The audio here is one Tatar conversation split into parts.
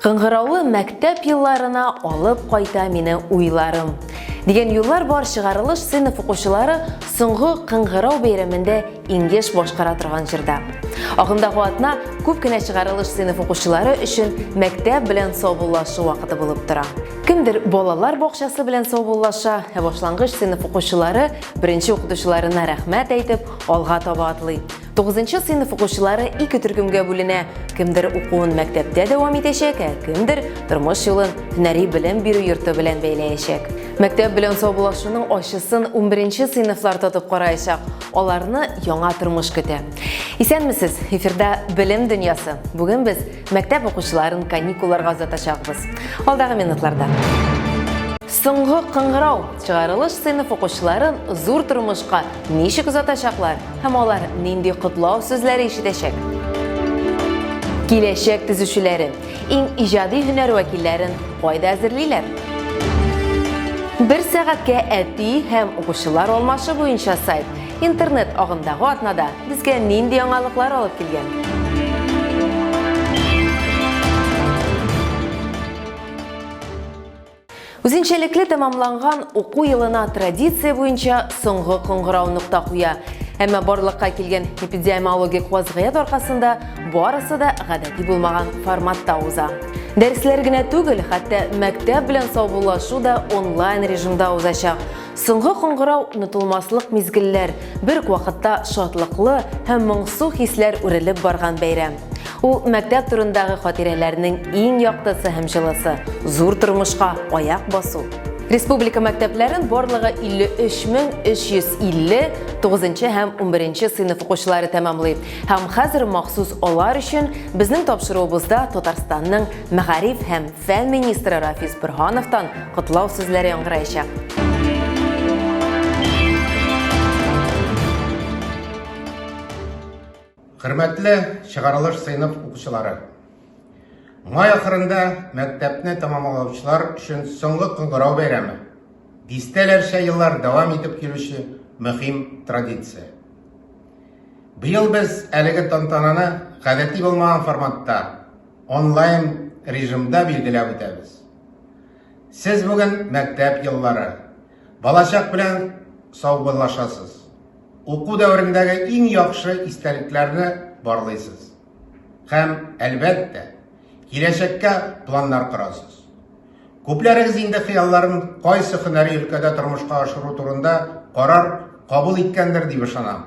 Кыңгыраулы мәктәп елларына алып кайта мине уйларым. Дигән юллар бар чыгарылыш сыйныф укучылары соңгы кыңгырау бәйрәмендә иңгеш башкара торган җырда. Агымдагы атна күп кенә чыгарылыш сыйныф укучылары өчен мәктәп белән саубуллашу вакыты булып тора. Кемдер балалар бакчасы белән саубуллаша, ә башлангыч сыйныф укучылары беренче укытучыларына рәхмәт әйтеп, алга таба атлый. Тугызынчы сыйныф укучылары ике төркемгә бүленә. Кемдер укуын мәктәптә дәвам итәчәк, ә кемдер тормыш юлын һөнәри белем бирү йорты белән бәйләячәк. Мәктәп белән саубуллашуның ачысын 11 сыйныфлар татып караячак. Аларны яңа тормыш көтә. Исәнмесез, эфирда Белем дөньясы. Бүген без мәктәп укучыларын каникулларга озатачакбыз. Алдагы минутларда. Соңгы кыңгырау чыгарылыш сыйныф укучыларын зур тормышка Ничек озатачаклар һәм алар нинди котлау сүзләре ишетәчәк? Киләчәк төзүчеләре иң иҗади һөнәр вәкилләрен кайда әзерлиләр? Бер сәгатькә әти һәм укучылар алмашы буенча сайт интернет агымдагы атнада безгә нинди яңалыклар алып килгән? Үзенчәлекле тәмамланган уку елына традиция буенча соңгы кыңгырау нокта куя. Әмма барлыкка килгән эпидемиологик вазгыять аркасында барысы да гадәти булмаган форматта уза. Дәресләр генә түгел, хәтта мәктәп белән саубуллашу да онлайн режимда узачак. Соңгы кыңгырау онытылмаслык мизгелләр, бер үк вакытта шатлыклы һәм моңсу хисләр үрелеп барган бәйрәм. Ул мәктәп турындагы хатирәләрнең иң яктысы һәм җылысы, зур тормышка аяк басу. Республика мәктәпләрен барлыгы 53350 тугызынчы һәм унберенче сыйныф укучылары тәмамлый һәм хәзер махсус алар өчен безнең тапшыруыбызда Татарстанның мәгариф һәм Фән министры Рафис Бөрһановтан котлау сүзләре яңгыраячак. Хөрмәтле чыгарылыш сыйныф укучылары! Май ахырында мәктәпне тәмамлаучылар өчен соңгы кыңгырау бәйрәме. Дистәләрчә еллар дәвам итеп килүче мөһим традиция. Быел без әлеге тантананы гадәти булмаган форматта онлайн режимда билгеләп үтәбез. Сез бүген мәктәп еллары, балачак белән саубуллашасыз. Уку дәверендәге иң яхшы истәлекләрне барлыйсыз. Һәм, әлбәттә, киләчәккә планнар корасыз. Күпләрегез инде хыялларын кайсы һөнәри өлкәдә тормышка ашыру турында карар кабул иткәндер дип ышанам.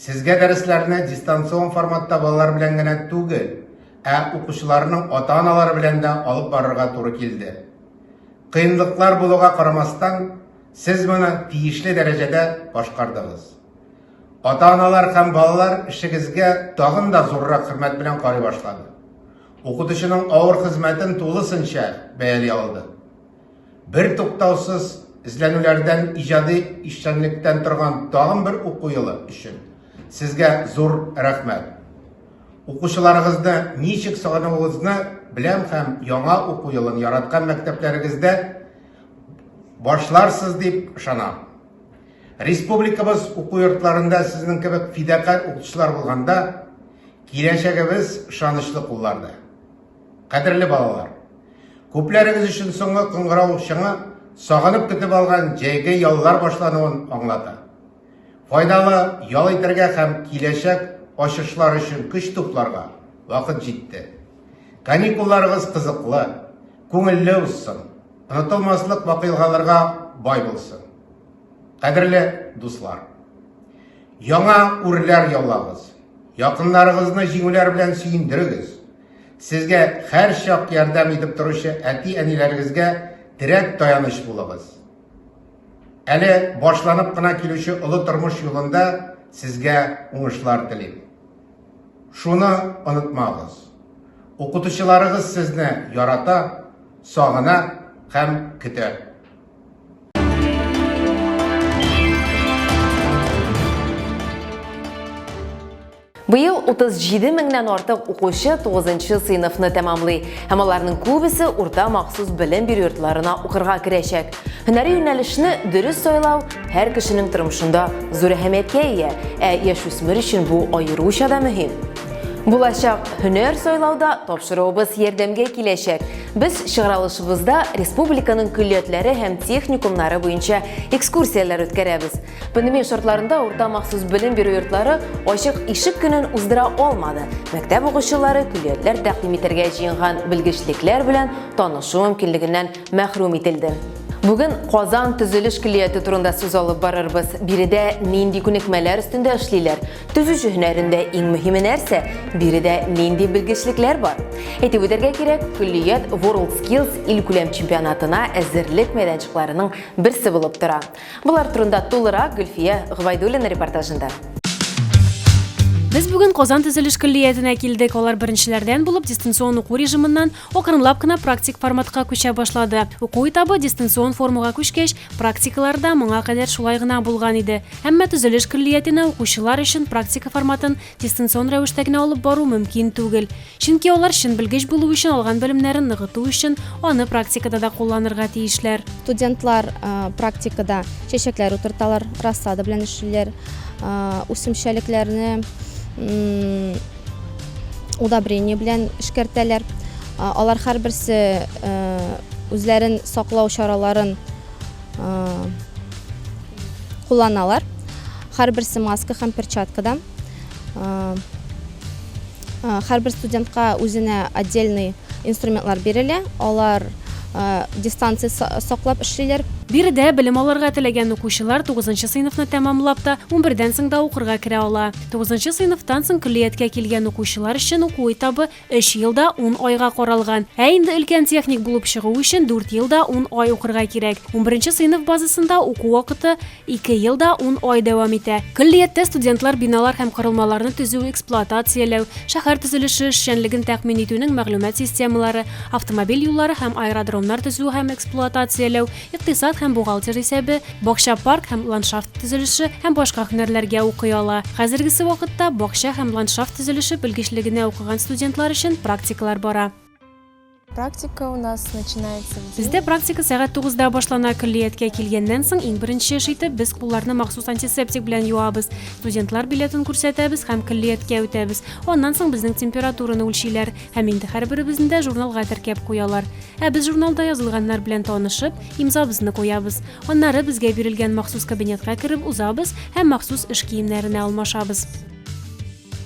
Сезгә дәресләрне дистанцион форматта балалар белән генә түгел, ә укучыларның ата-аналары белән дә алып барырга туры килде. Кыенлыклар булуга карамастан, сез моны тиешле дәрәҗәдә башкардыгыз. Ата-аналар һәм балалар эшегезгә тагын да зуррак хөрмәт белән карый башлады. Укытучының авыр хезмәтен тулысынча бәяли алды. Бер туктаусыз эзләнүләрдән, иҗади эшчәнлектән торган тагын бер уку елы өчен сезгә зур рәхмәт. Укучыларыгызны ничек сагынуыгызны беләм һәм яңа уку елын яраткан мәктәпләрегездә башларсыз дип ышанам. Республикабыз уку йортларында сезнең кебек фидакарь укытучылар булганда киләчәгебез ышанычлы кулларда. Кадерле балалар! Күпләрегез өчен соңгы кыңгырау шыңы сагынып көтеп алган җәйге яллар башлануын аңлата. Файдалы ял итәргә һәм киләчәк ачышлар өчен көч тупларга вакыт җитте. Каникулларыгыз кызыклы, күңелле узсын, онытылмаслык вакыйгаларга бай булсын. Кадерле дуслар, яңа үрләр яулагыз, якыннарыгызны җиңүләр белән сөендерегез. Сезгә һәрчак ярдәм итеп торучы әти-әниләрегезгә терәк таяныч булыгыз. Әле башланып кына килүче олы тормыш юлында сезгә уңышлар телим. Шуны онытмагыз. Укытучыларыгыз сезне ярата, сагына һәм көтә. Быел 37 меңнән артык укучы 9 сыйныфны тәмамлый, һәм аларның күбесе урта махсус белем бирү йортларына укырга керәчәк. Һөнәри юнәлешне дөрес сайлау һәр кешенең тормышында зур әһәмияткә ия, ә яшүсмер өчен бу аеруча да мөһим. Булачак һөнәр сайлауда тапшыруыбыз ярдәмгә киләчәк. Без чыгарылышыбызда республиканың көллиятләре һәм техникумнары буенча экскурсияләр үткәрәбез. Пандемия шартларында урта махсус белем бирү йортлары ачык ишек көнен уздыра алмады. Мәктәп укучылары көллиятләр тәкъдим итәргә җыенган белгечлекләр белән танышу мөмкинлегеннән мәхрүм ителде. Бүген Казан төзелеш көллияте турында сүз алып барырбыз. Биредә нинди күнекмәләр өстендә эшлиләр? Төзүче һөнәрендә иң мөһиме нәрсә? Биредә нинди белгечлекләр бар? Әйтеп үтәргә кирәк, көллият World Skills илкүләм чемпионатына әзерлек мәйданчыкларының берсе булып тора. Болар турында тулырак Гөлфия Гвайдулина репортажында. Без бүген Казан төзелеш көллиятенә килдек. Алар беренчеләрдән булып дистанцион уку режимыннан акрынлап кына практик форматка күчә башлады. Уку этабы дистанцион формуга күчкәч, практикалар да моңа кадәр шулай гына булган иде. Әмма төзелеш көллиятенә укучылар өчен практика форматын дистанцион рәвештә генә алып бару мөмкин түгел. Чөнки алар чын белгеч булу өчен алган белемнәрен ныгыту өчен аны практикада да кулланырга тиешләр. Студентлар практикада чәчәкләр утырталар, рассада белән эшлиләр, үсемчәлекләрне удобрение белән эшкәртәләр. Алар һәрберсе үзләрен саклау чараларын кулланалар. Һәрберсе маска һәм перчаткадан. Һәрбер студентка үзенә отдельный инструментлар бирелә. Алар дистанция саклап эшлиләр. Биредә белем алырга теләгән укучылар тугызынчы сыйныфны тәмамлап та, унбердән соң да укырга керә ала. Тугызынчы сыйныфтан соң көллияткә килгән укучылар өчен уку этабы Өч ел да ун айга каралган. Ә инде өлкән техник булып чыгу өчен дүрт ел да ун ай укырга кирәк. Унберенче сыйныф базасында уку вакыты ике ел да ун ай дәвам итә. Көллияттә студентлар биналар һәм корылмаларны төзү, эксплуатацияләү, шәһәр төзелеше эшчәнлеген тәкъмин итүнең мәгълүмат системалары, автомобиль юллары һәм аэродромнар төзү һәм эксплуатацияләү, икътисад һәм бухгалтер исәбе, бакча, парк һәм ландшафт төзелеше һәм башка һөнәрләргә укый ала. Хәзергесе вакытта бакча һәм ландшафт төзелеше белгечлегенә укыган студентлар өчен практикалар бара. Практика у нас начинается в 9. Бездә практика сәгать тугызда башлана. Көллияткә килгәннән соң, иң беренче эш итеп, без кулларны махсус антисептик белән юабыз, студентлар билетын күрсәтәбез һәм көллияткә үтәбез. Аннан соң безнең температураны үлчиләр. Һәм инде һәрберебезне дә журналга теркәп куялар. Ә без журналда язылганнар белән танышып, имзабызны куябыз. Аннары безгә бирелгән махсус кабинетка кереп узабыз һәм махсус эш киемнәренә алмашабыз.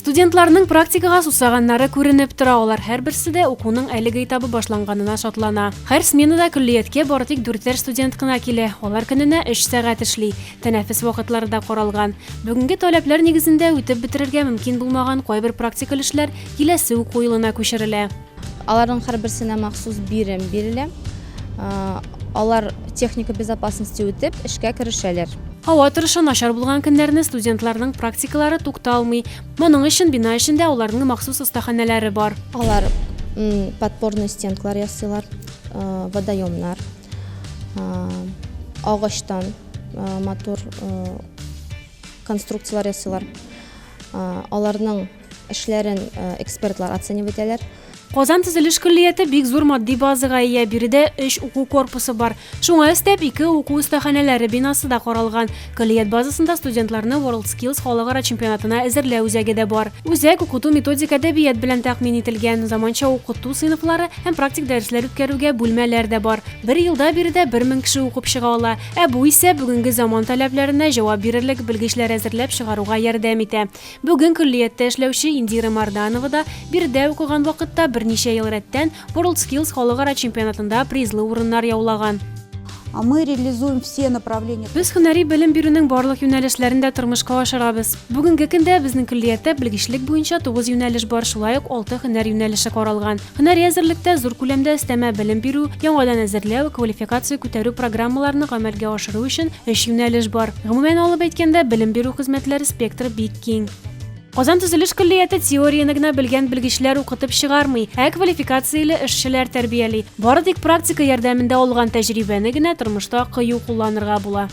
Студентларның практикага сусаганнары күренеп тора, алар һәрберсе дә укуның әлеге этабы башланганына шатлана. Һәр сменада көллияткә бары тик дүртәр студент кына килә, алар көненә өч сәгать эшли. Тәнәфес вакытлары да каралган. Бүгенге таләпләр нигезендә үтеп бетерергә мөмкин булмаган кайбер практикаль эшләр киләсе уку елына күчерелә. Аларның һәрберсенә махсус бирем бирелә. А, Алар техника безопасности үтеп, эшкә керешәләр. Һава торышы начар булган көннәрне студентларның практикалары тукталмый. Моның өчен бина эчендә аларның махсус остаханәләре бар. Алар м, подпорные стенкалар ясыйлар, а, водоемнар. Агачтан матур конструкцияләр ясыйлар. Аларның эшләрен экспертлар оценив итәләр. Казан төзелеш көллияте бик зур матди базага ия. Биредә өч уку корпусы бар. Шуңа өстәп, ике уку остаханәләре бинасы да каралган. Көллият базасында студентларны WorldSkills халыкара чемпионатына әзерләү үзәге дә бар. Үзәк укыту методик әдәбият белән тәкъмин ителгән, заманча укыту сыйныфлары һәм практик дәресләр үткәрүгә бүлмәләр дә бар. Бер елда биредә бер мең кеше укып чыга ала, ә бу исә бүгенге заман таләпләренә җавап бирерлек белгечләр әзерләп чыгаруга ярдәм итә. Бүген көллияттә эшләүче Индира Марданова да биредә укыган вакытта берничә ел рәттән WorldSkills халыкара чемпионатында призлы урыннар яулаган. А мы реализуем все направления. Без һөнәри белем бирүнең барлык юнәлешләрен дә тормышка ашырабыз. Бүгенге көндә безнең көллияттә белгечлек буенча 9 юнәлеш бар, шулай ук 6 һөнәр юнәлеше каралган. Һөнәри әзерлектә зур күләмдә өстәмә белем бирү, яңадан әзерләү, квалификация күтәрү программаларны гамәлгә ашыру өчен 3 юнәлеш бар. Гомумән алып әйткәндә, белем бирү хезмәтләре спектры бик киң. Казан төзелеш көллияте теорияне генә белгән белгечләр укытып чыгармый, ә квалификацияле эшчеләр тәрбияли. Бары тик практика ярдәмендә алган тәҗрибәне генә тормышта кыю кулланырга була.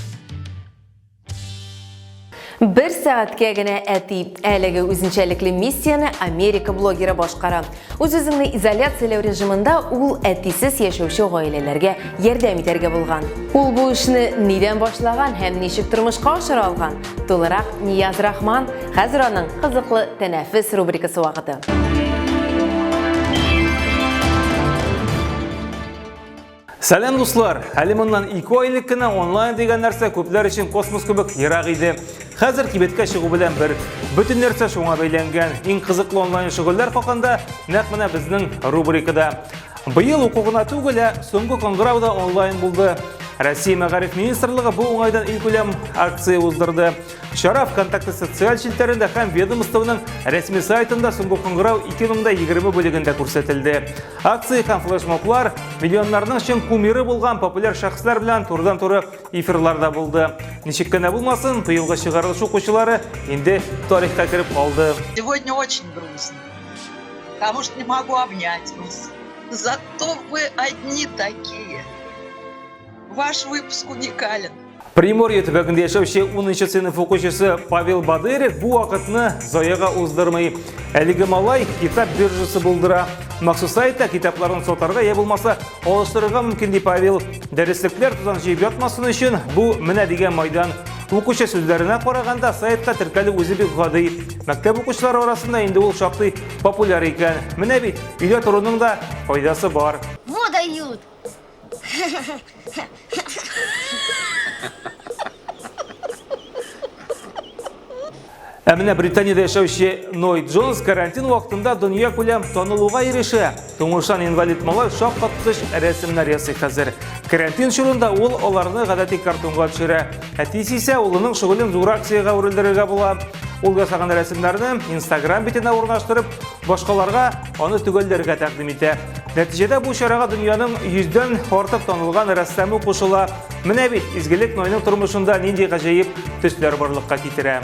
Бер сәгатькә генә әти. Әлеге үзенчәлекле миссияне Америка блогеры башкара. Үз-үзеңне изоляцияләү режимында ул әтисез яшәүче гаиләләргә ярдәм итәргә булган. Ул бу эшне нидән башлаган һәм ничек тормышка ашыра алган? Тулырак Нияз Рахман, хәзер аның кызыклы тәнәфес рубрикасы вакыты. Сәлам дуслар! Әле моннан 2 ай элек кенә онлайн дигән нәрсә күпләр өчен космос кебек ерак иде. Хәзер кибеткә чыгу белән бер. Бөтен нәрсә шуңа бәйләнгән. Иң кызыклы онлайн шөгыльләр хакында нәкъ менә безнең рубрикада. Быел уку гына түгел, ә соңгы коңгырау да онлайн булды. Россия мәгариф министрлыгы бу уңайдан илкүләм акция уздырды. Чара ВКонтакте социаль челтәрендә һәм ведомствоның рәсми сайтында соңгы коңгырау 2020 бүлегендә күрсәтелде. Акция һәм флешмоблар миллионнарның чын кумиры булган популяр шәхесләр белән турыдан-туры эфирларда булды. Ничек кенә булмасын, быелгы чыгарылыш укучылары инде тарихка кереп калды. Сегодня очень грустно, потому что не могу обнять вас. Зато вы одни такие. Ваш выпуск уникален. Приморье төбәгендә яшәүче 10 сыйныф укучысы Павел Бадырев бу вакытны заяга уздырмый. Әлеге малай китап биржасы булдыра. Махсус сайтта китапларын сатарга я булмаса алыштырырга мөмкин ди Павел. Дәреслекләр тузан җыеп ятмасын өчен бу менә дигән майдан. Укучы сүзләренә караганда сайтка теркәлү үзе бик гади. Мәктәп укучылары арасында инде ул шактый популяр икән. Менә бит, өйдә торуның да файдасы бар. Вот дают. Ә менә Британиядә яшәүче Ной Джонс карантин вакытында дөнья күләм танылуга ирешә. Туңышан инвалид малай шаккаткыч рәсемнәр ясый хәзер. Карантин чорында ул аларны гадәти картонга төшерә. Әтисе исә улының шөгылен зур акциягә үрелдерергә була. Ул ясаган рәсемнәрне Instagram битенә урнаштырып, башкаларга аны төгәлләргә тәкъдим итә. Нәтиҗәдә бу чарага дөньяның йөздән артык танылган рәссамы кушыла. Менә бит, изгелек Нойның тормышында нинди гаҗәеп төсләр барлыкка китерә.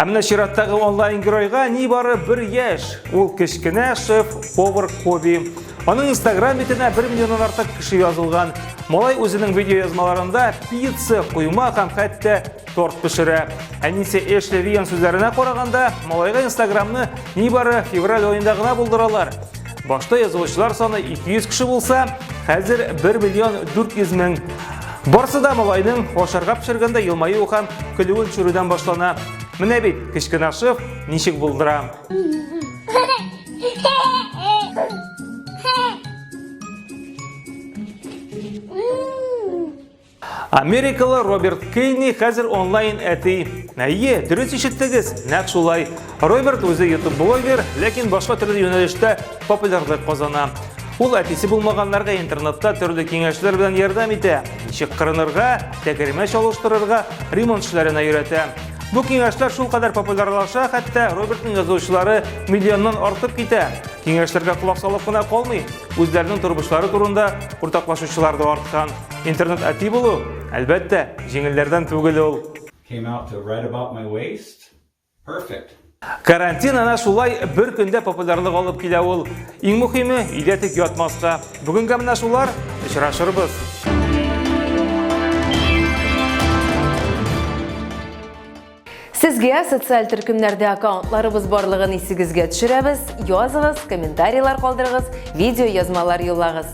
Ә менә чираттагы онлайн-геройга нибары бер яшь. Ул кечкенә шеф, повар Коби. Аның инстаграм битенә 1 миллионнан артык кеше язылган. Малай үзенең видеоязмаларында пицца, койма һәм хәтта торт пешерә. Әнисе Эшли Риан сүзләренә караганда, малайга инстаграмны нибары февраль аенда гына булдыралар. Башта язылучылар саны 200 кеше булса, хәзер 1 миллион 400 мең. Барсы да малайның ашарга пешергәндә елмаю һәм көлүен төшерүдән башлана. Менә бит кечкенә шеф ничек булдыра. Америкалы Роберт Кейни хәзер онлайн әти. Әйе, дөрес ишеттегез, нәкъ шулай. Роберт үзе YouTube блогер, ләкин башка төрле юнәлештә популярлык казана. Ул әтисе булмаганнарга интернетта төрле киңәшләр белән ярдәм итә. Ничек кырынырга, тәгәрмәч алыштырырга, ремонт эшләренә өйрәтә. Бу киңәшләр шул кадәр популярлаша, хәтта Робертның язучылары миллионнан артып китә. Киңәшләргә колак салып кына калмый, үзләренең тормышлары турында уртаклашучылар да арткан. Интернет әти булу, әлбәттә, җиңелләрдән түгел ул. Came out to write about my waist. Perfect. Карантин әнә шулай бер көндә популярлык алып килә ул. Иң мөхиме, өйдә тик ятмаска. Бүгенгә менә шулар, очрашырбыз. Сезгә социаль төркемнәрдә аккаунтларыбыз барлыгын исегезгә төшерәбез, языгыз, комментарийлар калдырыгыз, видео язмалар юллагыз.